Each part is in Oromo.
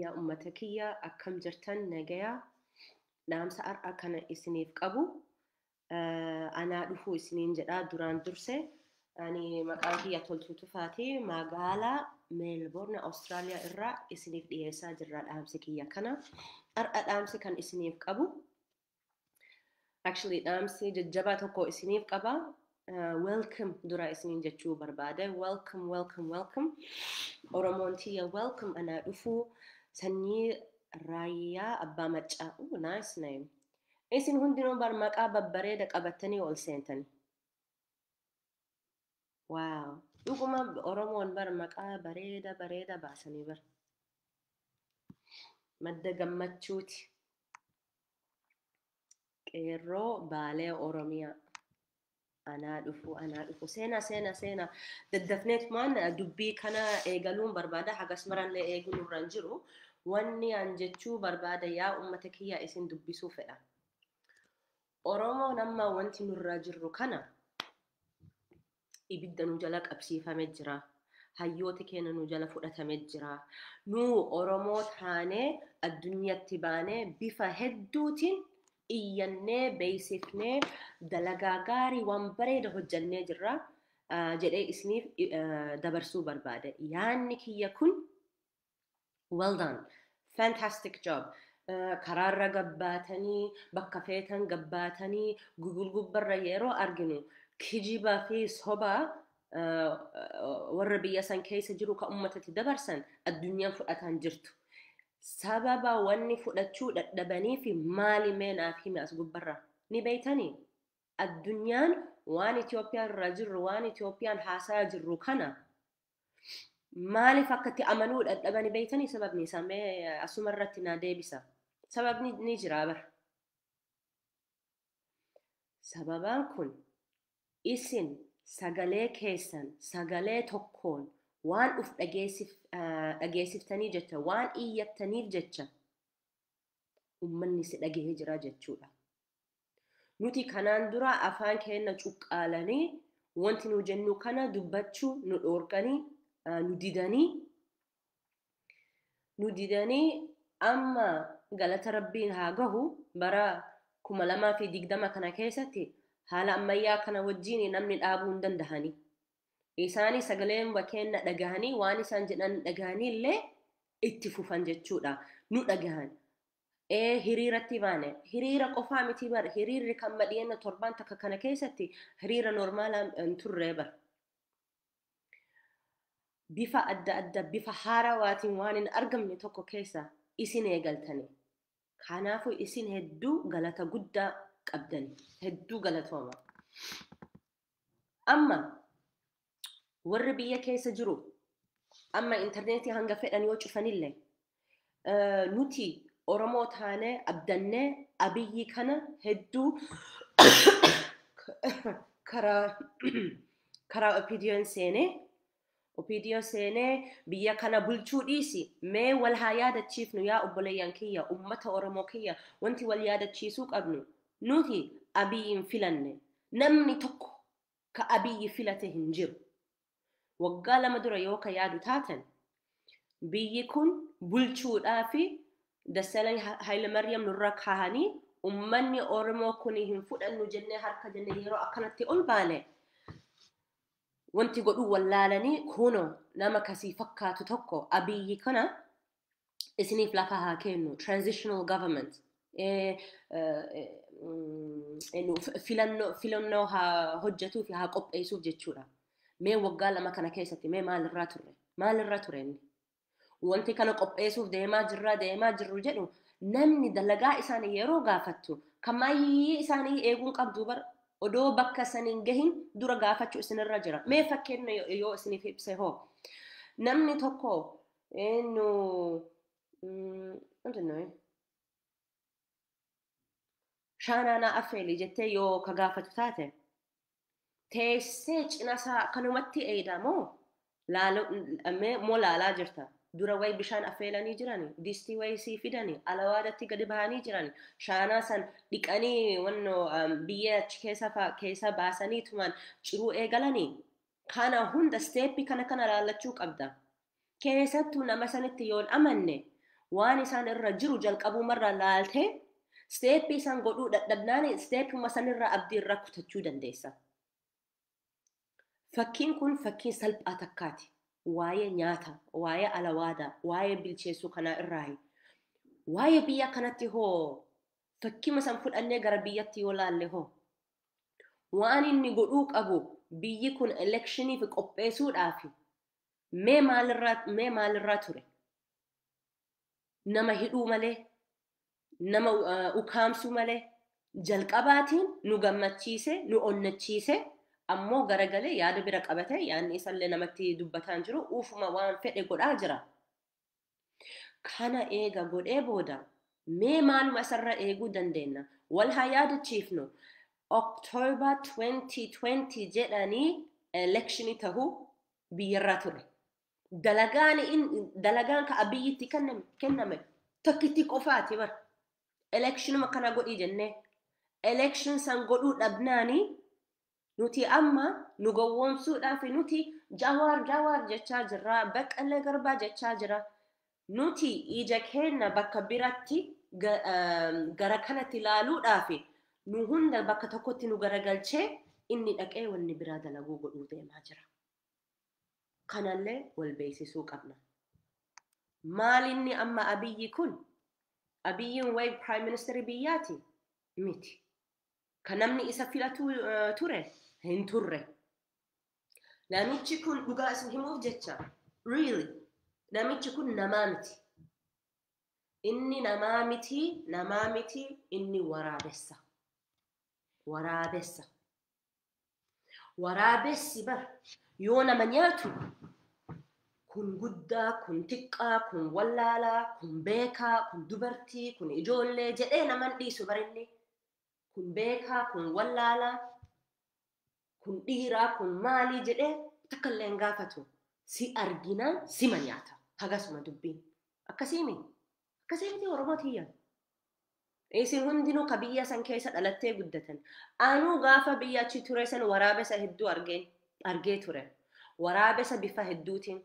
yaa ummata kiyya akkam jirtan nagaya dhaamsa har'a kana isiniif qabu anaa dhufuu isiniin jedha duraan durse ani maqaan kiyya toltuu tufaati magaalaa meelboorna awustiraaliyaa irraa isiniif dhiyeessaa jirra dhaamsi kiyya kana har'a dhaamsi kan isiniif qabu Actually dhaamsi jajjabaa tokko isiniif qaba. Uh, welcome dura isiniin jechuu barbaada. Welcome, welcome, welcome. Oromoon tiyya welcome anaa dhufuu sanyii raayyaa abbaa maccaa. Ooh, nice name. Isin hundinuu bar maqaa babbareeda qabattanii ol seentanii. Waaw! Dhuguma Oromoon bar maqaa bareeda bareeda baasanii bar. Madda gammachuuti. Qeerroo baalee Oromiyaa. Anaa dhufu, anaa dhufu. Seena, seena, seena. Daddafneetumaan dubbii kana eegaluun barbaada. Hagas marallee eeguun irra hin jiru. Wanni an jechuu barbaada yaa uummata kiyya isin dubbisuu fedha. Oromoon amma wanti nurraa jirru kana ibidda nu jala qabsiifame jira. Hayyooti keenya nu jala fudhatame jira. Nu Oromoo taanee addunyatti baanee bifa hedduutiin iyyannee beeksifnee dalagaa gaarii waan bareeda hojjannee jirra jedhee isiniif dabarsuu barbaade. Yaanni kiyya kun Well done. Fantastic job. Eh, Karaarra gabbaatanii, bakka feetan gabbaatanii, Google gubbarra yeroo arginu kijiba fi soba eh, warra biyya san keessa jiru kan ummatatti dabarsan addunyaan fudhataan jirtu. Sababa wanni fudhachuu dadhabanii fi maali mee naaf himi as gubbarra. Ni beeytanii? Addunyaan waan Itoophiyaan irra jirru, waan Itoophiyaan haasaa jirru kana Maaliif akka itti amanuu dadhabanii beektanii sababni isaa mee asuma irratti naa deebisa. Sababni ni jira bara. Sababaan kun isin sagalee keessan sagalee tokkoon waan uf dhageessif, ah, dhageessiftanii jecha waan iyyattaniif jecha ummanni si dhagahee jira jechuudha. Nuti kanaan dura afaan keenna cuqqaalanii, wonti nu jennu kana dubbachuu nu dhoorganii, nu didanii, nu didanii amma galata Rabbiin haa gahu bara 2020 kana keessatti haala ammayyaa kana wajjiin namni dhaabuu hin dandahanii. Isaani sagalee keenna dhagahanii waan isaan jedhan dhagahanii illee itti fufan jechuudha. Nu dhagahan. Ee hiriiratti baane hiriira qofaa mitii bar hiriirri kan madhiyenna torbaan takka kana keessatti hiriira normaalaa hin turree bar bifa adda adda bifa haarawaatiin waan hin argamne tokko keessa isin eegaltani kanaafuu isin hedduu galata guddaa qabdani hedduu galatooma amma warri biyya keessa jiru amma intarneetii hanga fedhan yoo cufanillee eh, nuti Oromoo taanee abdannee abiyyi kana hedduu karaa karaa opidiyoon seenee opidiyoo seenee biyya kana bulchuu dhiisi mee wal haa yaadachiifnu yaa obboleeyyan kiyya ummata Oromoo kiyya wanti wal yaadachiisuu qabnu nuti abiyyiin filanne namni tokko ka Abiy filate hin jiru. Waggaa lama dura yoo ka yaadu taatan biyyi kun bulchuudhaafi Dassalany Hayilamaryam nurra kaahanii ummanni Oromoo kuni hin fudhannu jennee harka jennee yeroo akkanatti ol baane wanti godhuu wallaalanii kuno nama kasii fakkaatu tokko Abiy kana isiniif lafa haa kennu transitional government eh, eh, mm, eh, nu- f- filannoo filannoo haa hojjetuu fi haa qopheessuuf jechuudha. Mee waggaa lama kana keessatti mee maalirraa turre? Maalirra ture inni? Wanti kana qopheessuuf deemaa jirra deemaa jirru jedhu namni dalagaa isaanii yeroo gaafattu kan maayyii isaanii eeguun qabdu bar odoo bakka saniin gahin dura gaafachuu isinirra jira. Mee fakkeenya yoo- yoo isiniif ibse hoo? Namni tokko Eenyu wanti nuyi shaanaanaa affeelii jettee yoo ka gaafatu taate teessee cinasaa akkanumatti eeydaa moo laaloo mee moo laalaa jirta dura wayi bishaan affeelanii jirani distii wayi sii fidani alawaadatti gadi bahanii jirani shaanaa san dhiqanii wanno biyyee achi keessa fa keessa baasanii tuman ciruu eegalanii Kana hunda step kana kana laallachuu qabda. Keessattuu nama sanitti yoon amanne waan isaan irra jiru jalqabumarraa laaltee step isaan godhuu dadhabnaan stepuma sanirraa abdii irraa kutachuu dandeessa. Fakkiin kun fakkii salphaa takkaati. Waa'ee nyaata, waa'ee alawaadaa, waa'ee bilcheessuu kanaa irraayi. Waa'ee biyya kanatti hoo fakkima san fudhannee gara biyyatti yoo laalle hoo Waan inni godhuu qabu biyyi kun elekshiniif qopheesuudhaafi. Mee maalirraa mee maalirraa ture? Nama hidhuu malee, nama uh, ukaamsuu malee jalqabaatiin nu gammachiise, nu onnachiise ammoo garagalee yaada bira qabate yaanni isallee namatti dubbataan jiru uufuma waan fedhe godhaa jira. Kana eega godhee booda mee maaluma isarra eeguu dandeenna? Wal haa yaadachiifnu. October 2020 jedhanii elekshinii tahu biyyarraa ture. Dalagaan in- dalagaan ka abiyyitti kenname kenname tokkittii qofaati bar. Elekshinuma kana godhii jennee elekshin san godhuu dhabnaanii Nuti amma nu gowwoomsuudhaafi nuti Jawaar Jawaar jechaa jirra, Baqqalee Garbaa jechaa jira. Nuti ija keenna bakka biratti gara kanatti laaluudhaafi nu hunda bakka tokkotti nu garagalchee inni dhaqee wanni biraa dalaguu godhuu deemaa jira. Kanallee wal beeksisuu qabna. Maal inni amma Abiyyi kun? Abiyyiin wayi Prime Minister biyyaati? Miti. Kan namni isa filatu ture hin turre. Namichi kun dhugaa isin himuuf jecha really namichi kun namaa miti. Inni namaa miti, namaa miti, inni waraabessa. Waraabessa. Waraabessi bar yoo nama nyaatu kun guddaa, kun xiqqaa, kun wallaalaa, kun beekaa, kun dubartii, kun ijoollee jedhee naman dhiisu bar inni. Kun beekaa, kun wallaalaa, kun dhiiraa, kun maalii jedhee takka illee hin gaafatu. Si arginaan sima nyaata. Hagasuma dubbiin. Akkasiimi. Akkasii miti Oromoo tiyya. Isin hundinuu ka biyya san keessa dhalattee guddatan, anuu gaafa biyya achi ture san waraabessa hedduu argeen, argee ture. Waraabessa bifa hedduutiin,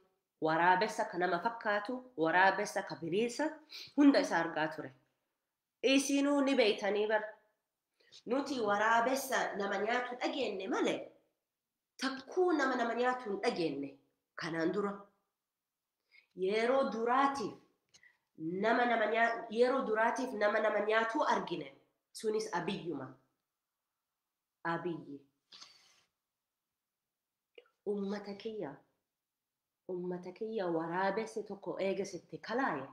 waraabessa ka nama fakkaatu, waraabessa ka bineensa hunda isa argaa ture. Isinuu ni beeytanii bar. Nuti waraabessa nama nyaatu dhageenne malee, takkuu nama nama nyaatu hin dhageenne kanaan dura. Yeroo duraatiif nama nama nyaa- yeroo duraatiif nama nama nyaatuu argine. Sunis abiyyuma. Abiyyi. Ummata kiyya. Ummata kiyya waraabesse tokko eega sitti kalaaye.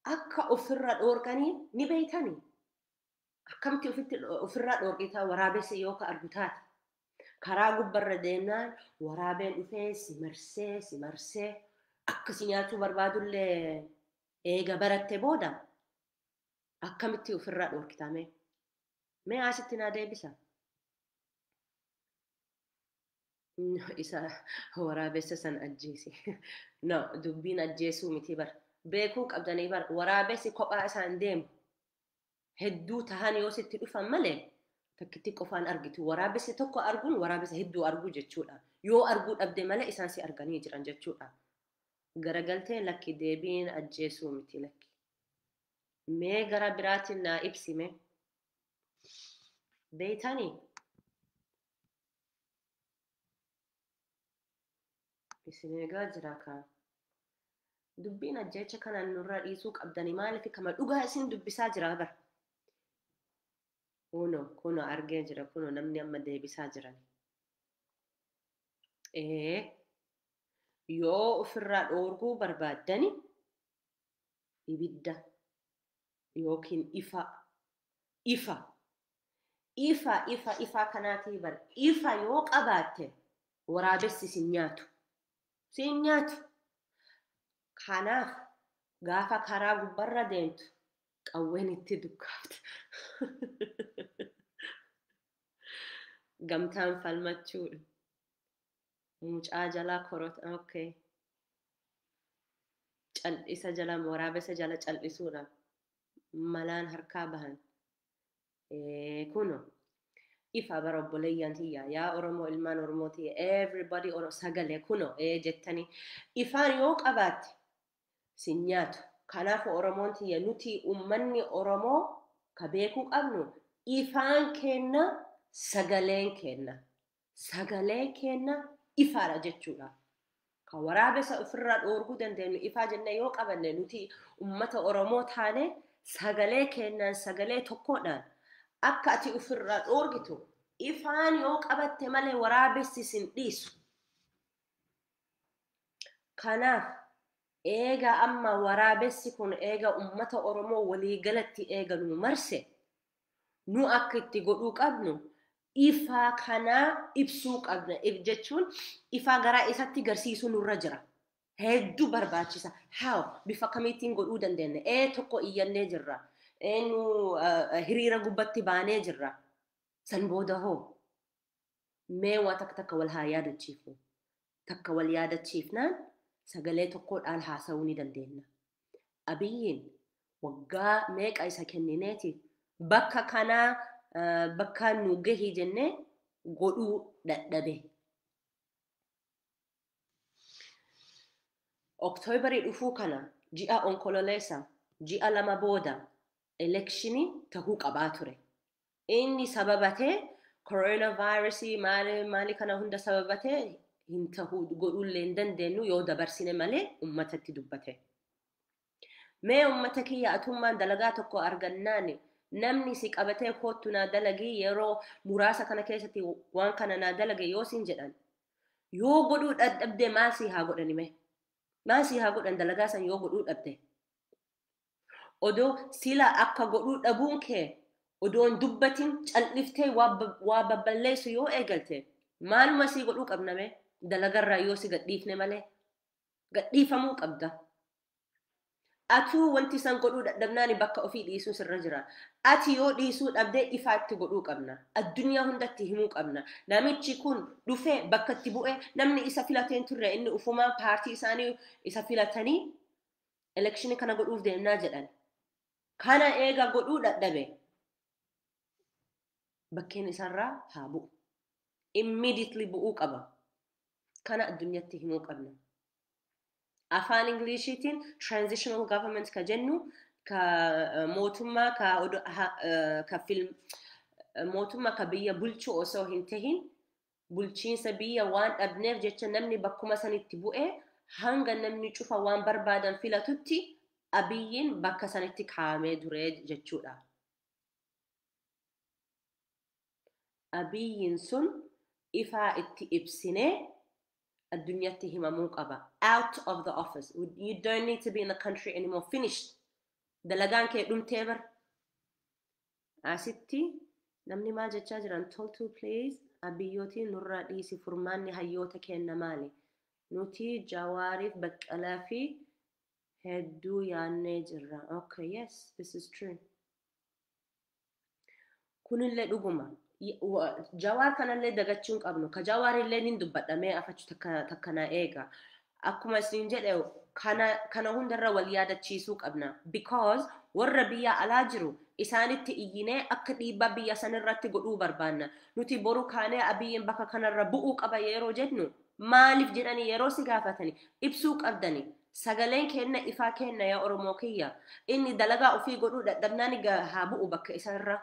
Akka ofirra dhoorkanii ni beeytanii. Akkamti ofitti ofirraa dhoorgitaa waraabessa yoo ka argu taate. Karaa gubbarra deemnaan waraabeen dhufee si marsee si marsee akka si nyaachuu barbaadullee eega baratte booda akkamitti ofirraa dhoorgitaa mee? Mee asitti naa deebisa. Isa waraabessa san ajjeese. No, dubbiin ajjeesuu miti bar. Beekuu qabdanii bar waraabessi kophaa isaan deemu. hedduu tahan yoo sitti dhufan malee takkittii qofaan argitu waraabessi tokko arguun waraabessa hedduu arguu jechuudha yoo arguu dhabde malee isaan si arganii jiran jechuudha garagaltee lakki deebiin ajjeesuu miti lakki mee gara biraatiin naa ibsime beeytanii Isin eegaa jira kaa. Dubbiin ajjeecha kana nurraa dhiisuu qabdani maaliif kama dhugaa isin dubbisaa jira bar. Kuno kuno argee jira kuno namni amma deebisaa jiran. Ee yoo ofirraa dhoorguu barbaaddani ibidda yookiin ifaa ifa ifa ifa ifaa kanaatii bar ifa yoo qabaatte waraabessi sin nyaatu sin nyaatu kanaaf gaafa karaa gubbarra deemtu qawween itti dukkaafta gamtaan falmachuudha Mucaa jalaa korot ok. Caldhisa jala waraabessa jala caldhisuudha. Malaan harkaa bahan. Eh, kuno. Ifa bara obboleeyyan tiyya. Yaa Oromoo ilmaan Oromoo tiyya. Everybody oro sagale kuno eh jettani. Ifaan yoo qabaatte si nyaatu. Kanaaf Oromoon tiyya nuti ummanni Oromoo ka beekuu qabnu ifaan keenna sagaleen keenna. sagalee keenna ifaadha jechuudha. Kan waraabessa ofirraa dhoorguu dandeenyu ifaa jennee yoo qabanne nuti ummata Oromoo taane sagalee keennaan sagalee tokkoodhaan akka ati ofirraa dhoorgitu ifaan yoo qabatte malee waraabessi isin dhiisu. Kanaaf eega amma waraabessi kun eega ummata Oromoo waliigalatti eega nu marse nu akka itti godhuu qabnu ifaa kanaa ibsuu qabna. If jechuun ifaa garaa isatti garsiisuu nurra jira. Hedduu barbaachisa. How? Bifa akkamiittiin godhuu dandeenya? Ee tokko iyyannee jirra. Ee nu eh, hiriira gubbatti baanee jirra. San booda hoo? Mee waa takka takka wal haa yaadachiifnu. Takka wal yaadachiifnaan sagalee tokkoodhaan haasa'uu ni dandeenna. Abiyyiin waggaa meeqa isa kennineeti bakka kanaa eh, bakka nu gahi jennee godhuu dadhabe. Oktoobarii dhufuu kana ji'a onkololeessa ji'a lama booda elekshinii tahuu qabaa ture. Inni sababate corona virus maali maali kana hunda sababate hin tahu godhuullee hin dandeenyu yoo dabarsine malee ummatatti dubbate. Mee ummata kiyya atummaan dalagaa tokko argannaan namni si qabatee koottu naa dalagii yeroo muraasa kana keessatti waan kana naa dalage yoo siin jedhan yoo godhuu dadhabde maal sii haa godhani mee? Maal sii haa godhan dalagaa san yoo godhuu dhabde? Odoo sila akka godhuu dhabuun kee odoo hin dubbatin cal'iftee waa ba- waa babballeessu yoo eegalte maaluma sii godhuu qabna mee dalagarraa yoo si gadhiifne malee gadhiifamuu qabda. Atuu wanti san godhuu dadhabnaani bakka ofii dhiisuu sirra jira. Ati yoo dhiisuu dhabde ifaa itti godhuu qabna. Addunyaa hundatti himuu qabna. Namichi kun dhufee bakka itti bu'ee namni isa filatee hin turre inni ufumaan paartii isaanii isa filatanii elekshini kana godhuuf deemnaa jedhan kana eega godhuu dhadhabe bakkeen isarraa haa bu'u immediately bu'uu qaba kana addunyatti himuu qabna afaan ingiliishiitiin transitional government ka jennu ka mootummaa ka odo- ha- eh, ka film mootummaa ka biyya bulchu osoo hin tahin Bulchiinsa biyya waan dhabneef jecha namni bakkuma sanitti bu'e hanga namni cufa waan barbaadan filatutti Abiyyiin bakka sanitti kaa'amee ture jechuudha. Abiyyiin sun ifaa itti ibsinee addunyatti himamuu qaba. Out of the office. You don't need to be in the country anymore. Finished. Dalagaan kee dhumtee bar. Asitti namni maal jechaa jiran toltuu please abiyyootii nurraa dhiisi furmaanni hayyoota keenna maali nuti jawaariif baqqalaa fi hedduu yaannee jirra okay yes this is true kunillee dhuguma Y- wa- jawaar kanallee dagachuu hin qabnu ka jawaarillee nin dubbadhamee afachu takka takka na eega Akkuma isiniin jedhe kana kana hundarra wal yaadachiisuu qabna. Because warra biyya alaa jiru isaanitti iyyinee akka dhiibbaa biyya sanirratti godhuu barbaanna. Nuti boru kaanee Abiyyiin bakka kanarra bu'uu qaba yeroo jennu maaliif jedhanii yeroo si gaafatani ibsuu qabdani. Sagaleen keenna ifaa keenna yaa Oromoo kiyya. Inni dalagaa ofii godhuu dadhabnaani ga haa bu'u bakka isa irra.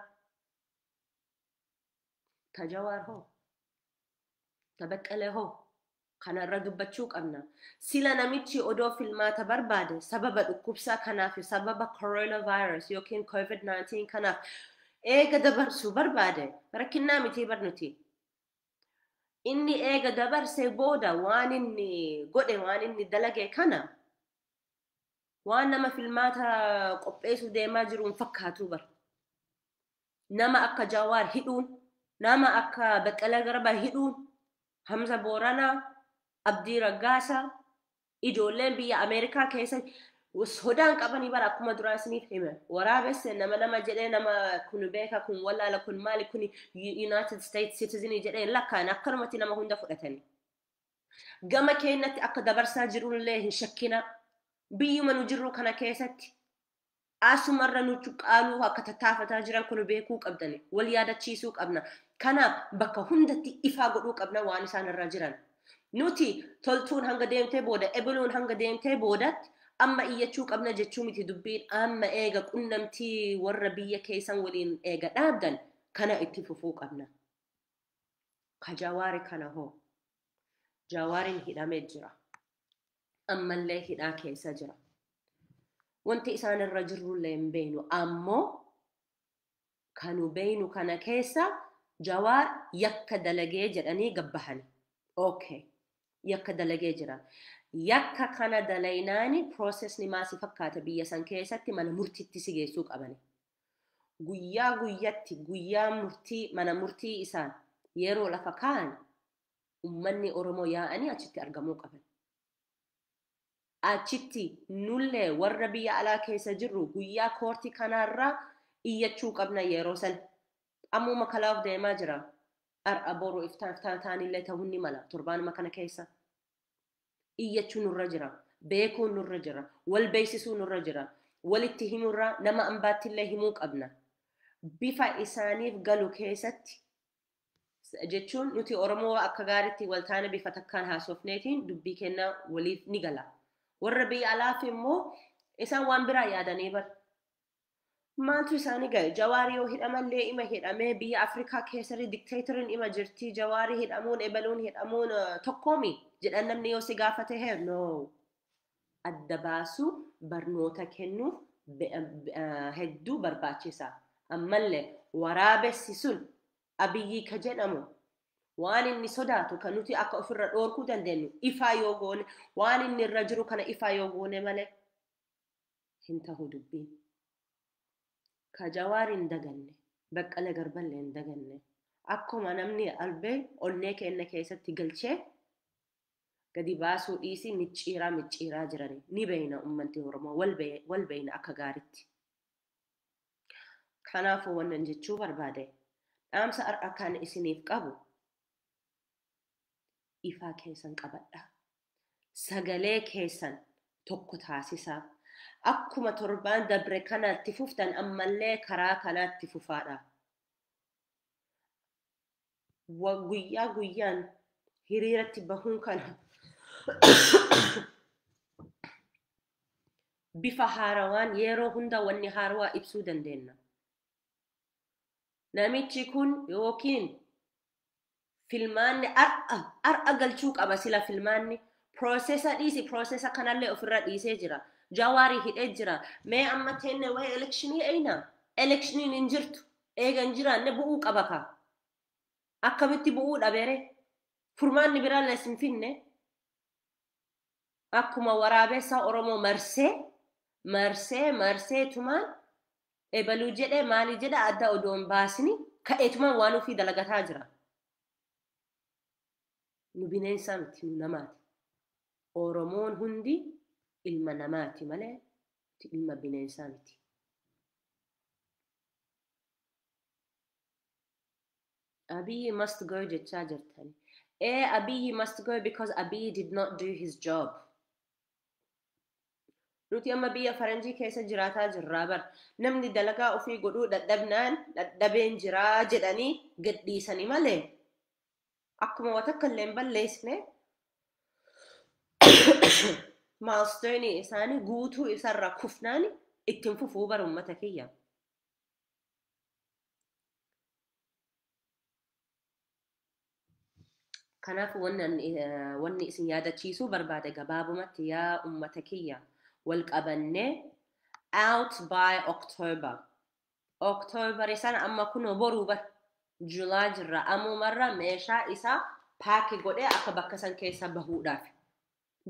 Ta Jawaar hoo? Ta Beqqelee hoo? Kana irra dubbachuu qabna. Sila namichi odoo filmaata barbaade sababa dhukkubsaa kanaa fi sababa coronavirus yookiin COVID-19 kanaaf eega dabarsuu barbaade rakkinnaa mitii bar nuti. Inni eega dabarsee booda waan inni godhe waan inni dalage kana waan nama filmaata qopheessuu deemaa jiru hin fakkaatuu bar. Nama akka Jawaar hidhuun, nama akka Beqqelee Garbaa hidhuun Hamza Booranaa, Abdii Raggaasaa, ijoolleen biyya Ameerikaa keessa sodaan qabanii bara akkuma duraa isiniif hime. Waraabesse nama nama jedhee nama kun beeka kun wallaala kun maali kun United States citizenii jedhee hin lakkaa'an akkanumatti nama hunda fudhatanii. Gama keenyatti akka dabarsaa jirullee hin shakkinaa. Biyyuma nu jirru kana keessatti Asumarra nu cuqqaaluu akka tattaafataa jiran kun beekuu qabdani. Wal yaadachiisuu qabna. Kanaaf bakka hundatti ifaa godhuu qabna waan isaan irra jiran. Nuti toltuun hanga deemtee booda, ebeluun hanga deemtee boodatti amma iyyachuu qabna jechuu miti dubbiin amma eega qunnamtii warra biyya keessan waliin eega dhaabdan kana itti fufuu qabna. Ka Jawaari kana hoo? Jawaarin hidhame jira. ammallee hidhaa keessa jira. Wanti isaan irra jirrullee hin beeynu ammoo kanu beeynu kana keessa jawaar yakka dalagee jedhanii gabbahani. Okay. Yakka dalagee jira. Yakka kana dalaynaani piroosesni maa si fakkaata biyya san keessatti mana murtiitti si geessuu qabani. Guyyaa guyyatti guyyaa murtii mana murtii isaan yeroo lafa kaa'an ummanni Oromoo yaa'anii achitti argamuu qaban. Achitti nullee warra biyya alaa keessa jirru guyyaa koortii kanaarraa iyyachuu qabna yeroo san. Ammuma kalaaf deemaa jira. Har'a boru iftaan iftaan taanillee ta'uun ni mala torbaanuma kana keessa. Iyyachuu nurra jira. Beekuun nurra jira. Wal beeksisuu nurra jira. Walitti himurraa nama ambaattillee himuu qabna. Bifa isaaniif galu keessatti jechuun nuti Oromoo akka gaariitti wal taane bifa takkaan haasofneetiin dubbii kenna waliif ni gala. Warra biyya alaaf immoo isaan waan biraa yaadanii bar. Maaltu isaanii gahe? Jawaari yoo hidhamallee ima hidhamee biyya Afrikaa keessatti dikteetariin ima jirti jawaari hidhamuun ebaluun hidhamuun tokkoomi jedhan namni yoo si gaafate hee no. adda baasuu barnoota kennuuf hedduu barbaachisa. Ammalle waraabessi sun Abiyyii ka jedhamu waan inni sodaatu ka nuti akka ofirra dhoorkuu dandeenyu ifaa yoo goone waan inni irra jiru kana ifaa yoo goone malee hin tahu dubbiin. Ka Jawaar hin daganne, Baqqala Garballe hin daganne. Akkuma namni albee onnee keenna keessatti galchee Gadi baasuu dhiisii micciiraa micciiraa jirani. Ni beeyna ummanti Oromoo wal beeyna akka gaaritti. Kanaafuu wannan jechuu barbaade dhaamsa har'a kan isiniif qabu ifaa keessan qabadhaa. Sagalee keessan tokko taasisaa. Akkuma torbaan dabre kana itti fuftan ammallee karaa kanaa itti fufaadha. guyyaa guyyaan hiriiratti bahuun kana bifa haarawaan yeroo hunda wanni haarawaa ibsuu dandeenya. Namichi kun yookiin filmaanni ar'a ar'a galchuu qaba sila filmaanni piroosesa dhiisi piroosesa kanallee ofirra dhiisee jira. Jawaarii hidhee jira. Mee amma teenne waa'ee elekshinii eeyna. Elekshiniin hin jirtu. Eega hin jiraanne bu'uu qaba kaa. Akkamitti bu'uu dhabere? Furmaanni biraallees hin finne. Akkuma waraabeessaa Oromoo marsee, marsee, marsee tumaan ebaluu jedhe, maalii jedhe adda odoo hin baasini ka'eetumaan waan ufii dalagataa jira. Nu bineensaa miti, nu namaati. Oromoon hundi ilma namaati malee nuti ilma bineensaa miti. Abiyi must go jechaa jirtan. Ee Abiyi must go because Abiyi did not do his job. Nuti amma biyya faranjii keessa jiraataa jirraa bar. Namni dalagaa ofii godhuu dadhabnaan dadhabeen jiraa jedhanii gadhiisani malee akkuma wa takka illee hin balleessine maastoonii isaanii guutuu isarra kufnaan ittiin fufuu bara ummata kiyya. Kanaaf wanni isin yaadachiisuu barbaade gabaabumatti yaa ummata kiyya wal qabannee out by October October sana amma kunoo boruu bar July jirra amumarra meeshaa isaa paaki godhee akka bakka san keessa bahuudhaaf.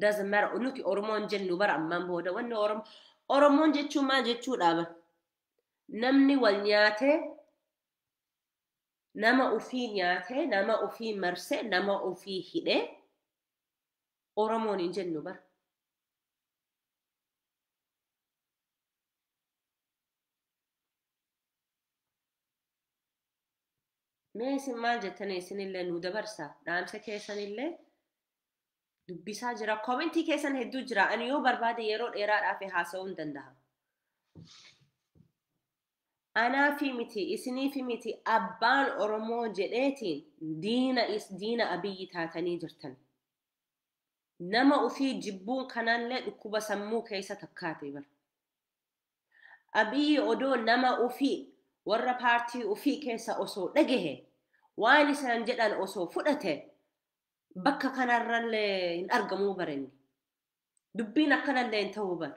Doesn't matter nuti Oromoon jennu bara ammaan booda wanni Oromo Oromoon jechuun maal jechuudha bar namni wal nyaatee nama ufii nyaatee nama ufii marsee nama ufii hidhee Oromoon hin jennu bar. Mee isin maal jettanii isinillee nu dabarsa dhaamsa keessanillee dubbisaa jira koomentii keessan hedduu jira ani yoo barbaade yeroo dheeraadhaaf haasa'uu hin danda'a. Anaafi miti isiniifi miti abbaan Oromoo jedheetiin diina is diina abiyyi taatanii jirtan. Nama ofii jibbuun kanallee dhukkuba sammuu keessa takkaate bara. Abiyi odoo nama ufii, warra paartii ufii keessa osoo dhagahe, waan isaan jedhan osoo fudhate, bakka kanarralle hin argamuu bar inni. Dubbiin akkanalle hin ta'uu bar.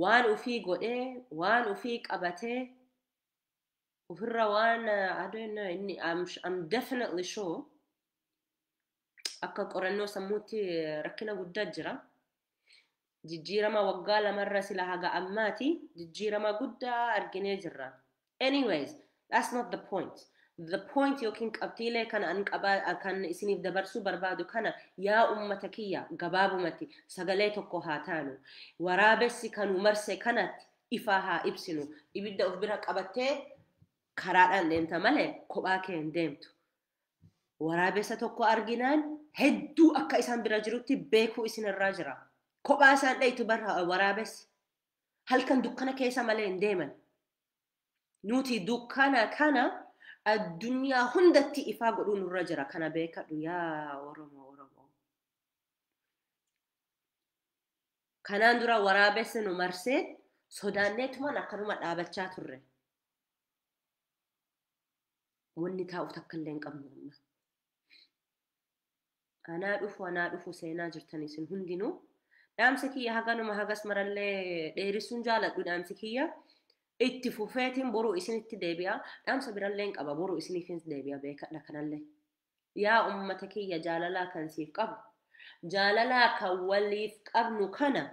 Waan ufii godhee, waan ufii qabatee, ufirra waan, I don't know, inni, I'm, I'm definitely sure, akka qorannoo sammuutti rakkina guddaa jira. Jijjiirama waggaa lamarra sila haga ammaati jijjiirama guddaa arginee jirra. Anyways, that's not the point. The point yookiin qabxiilee kan an qabaa kan isiniif dabarsuu barbaadu kana yaa ummata kiyya gabaabumatti sagalee tokko haa taanu. Waraabessi kan nu marse kanatti ifaa haa ibsinu. Ibidda of bira qabattee karaadhaan deemta malee kophaa kee hin deemtu. Waraabessa tokko arginaan hedduu akka isaan bira jirutti beekuu isin irraa jira. Kophaa isaan dhayitu bar waraabessi. Halkan dukkana keessa malee hin deeman. Nuti dukkana kana addunyaa hundatti ifaa godhuu nurra jira. Kana beekadhu yaa Oromoo Oromoo. Kanaan dura waraabessi nu marsee sodaanneetumaan akkanuma dhaabachaa turre. Wanni taa'u takkallee hin qabnu amma. Anaa dhufu anaa dhufu seenaa jirtan isin hundinuu. Dhaamsi kiyya haganuma hagas marallee dheerissuun jaaladhu dhaamsi kiyya. Itti fufeetiin boruu isinitti deebi'a. Dhaamsa birallee hin qaba boruu isiniifis deebi'a beekadha kanallee. Yaa ummata kiyya jaalalaa kan siif qabu. Jaalalaa kan waliif qabnu kana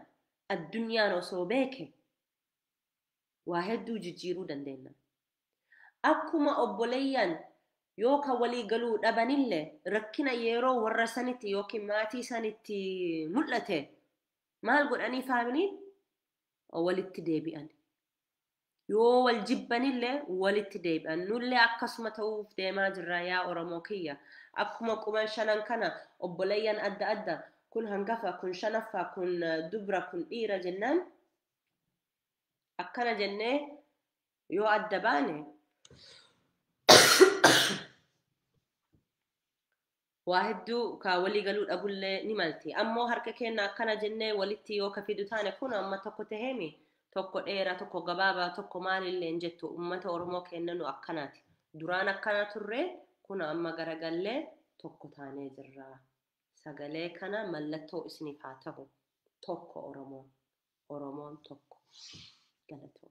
addunyaan osoo beeke waa hedduu jijjiiruu dandeenya. Akkuma obboleeyyan yoo kan walii galuu dhabanille rakkina yeroo warra sanitti yookiin maatii sanitti mul'ate maal godhanii faamiliin walitti deebi'an. Yoo wal jibbanille walitti deebi'an. Nullee akkasuma ta'uuf deemaa jirra yaa Oromoo kiyya. Akkuma quban shanan kana obboleeyyan adda adda kun hangafa, kun shanaffaa, kun dubra, kun dhiira jennaan akkana jennee yoo adda baane waa hedduu ka walii galuu dhabullee ni malti ammoo harka keenna akkana jennee walitti yoo ka fidu taane kun amma tokko taheemi tokko dheera tokko gabaabaa tokko maalillee hin jettu ummata oromoo keenna nu akkanaati duraan akkana turre kun amma garagallee tokko taanee jirra sagalee kana mallattoo isiniif haa tahu tokko oromoon oromoon tokko galatoo